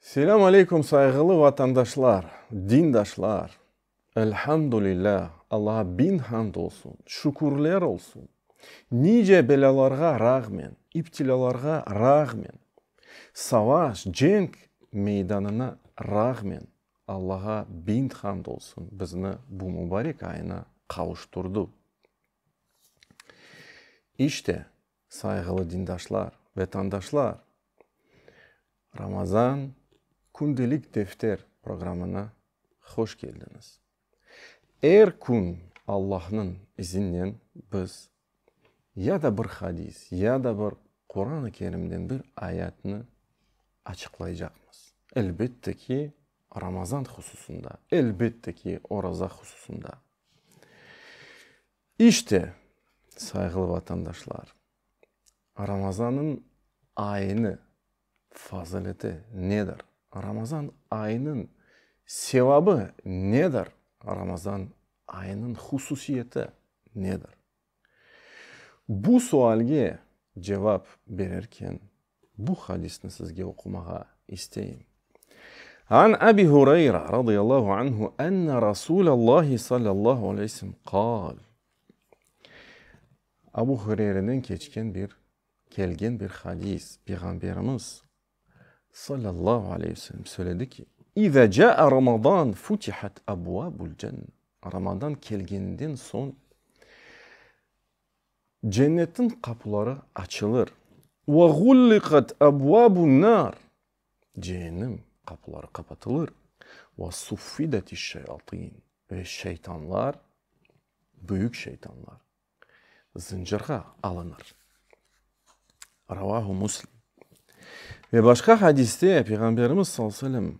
Selâm aleykum sayğılı vatandaşlar, dindaşlar! Elhamdülilâ, Allağa biñ hamd olsun, şükürler olsun! Nice belâlarğa rağmen, iptilâlarğa rağmen, savaş, cenk meydanına rağmen Allağa biñ hamd olsun, bizni bu mubarek ayına qavuşturdı. İşte, Sayğılı dindaşlar, vetandaşlar! Ramazan kündelik defter programına hoş keldiñiz. Er kün Allahnıñ izinnen biz ya da bir hadis, ya da bir Quran-ı Kerimden bir ayatnı açıqlaycaqmız. Elbette ki, Ramazan hususında, elbette ki, oraza hususında. İşte, sayğılı vatandaşlar, Ramazan'nıñ ayını fazıleti nedir? Ramazan ayınıñ sevabı nedir? Ramazan ayınıñ hususiyeti nedir? Bu sualge cevap bererken, Bu hadisni sizge oqumağa isteyim. An Abi Hureyra, radıyallahu anhu, enne Rasulallahi, sallallahu aleyhi ve sellem, qâl. Abu Hureyreden keçken bir, kelgen bir hadis, Peyğamberimiz, sallallahu aleyhi ve sellem, söyledi ki, İza câ'a Ramazan futihat abvâbul cenne. Ramazan kelgeninden soñ. Cennetniñ qapuları açılır. Ve ğulliqat ebvabun nar, Cehennem qapuları qapatılır. Ve suffidetis şeyatin, Ve şeytanlar, büyük şeytanlar, zıncırğa alınır. Ravahu Muslim. Ve başqa hadiste Peyğamberimiz sallallahu aleyhi ve sellem.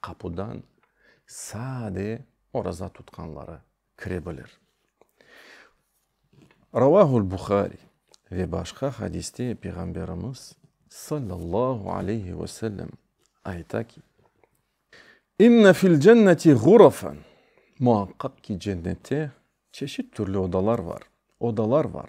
qapudan sade oraza tutqanları kire bilir. Ravâhul Buhari ve başqa hadiste Peyğamberimiz, sallallahu aleyhi ve sellem, ayta ki, İnne fil cenneti ğurafen, Muaqqaq ki, cennette çeşit-türlü odalar bar, odalar bar.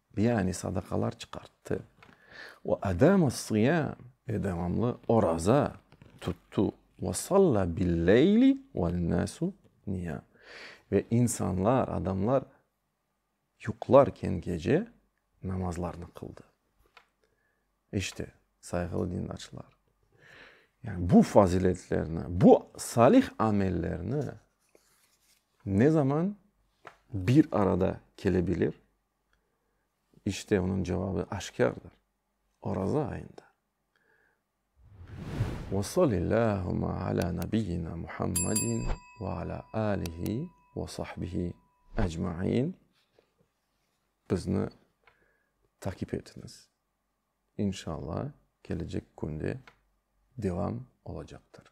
Yani sadaqalar çıqarttı. Ve edâmessiyâm ve devamlı oraza tuttu. Ve salla billeyli vennâsu niyâm ve insanlar, adamlar yuqlarken gece namazlarını qıldı. İşte, sayğılı dindarcılar, yani bu faziletlerni, bu salih amellerni ne zaman bir arada kelebilir? İşte onıñ cevabı aşkârdır, Oraza ayında. Ve salillâhuma alâ nabiyyina Muhammedin ve alâ âlihi ve sahbihi ecmain. Bizni takip etiñiz. İnşalla kelecek künde devam olacaqtır.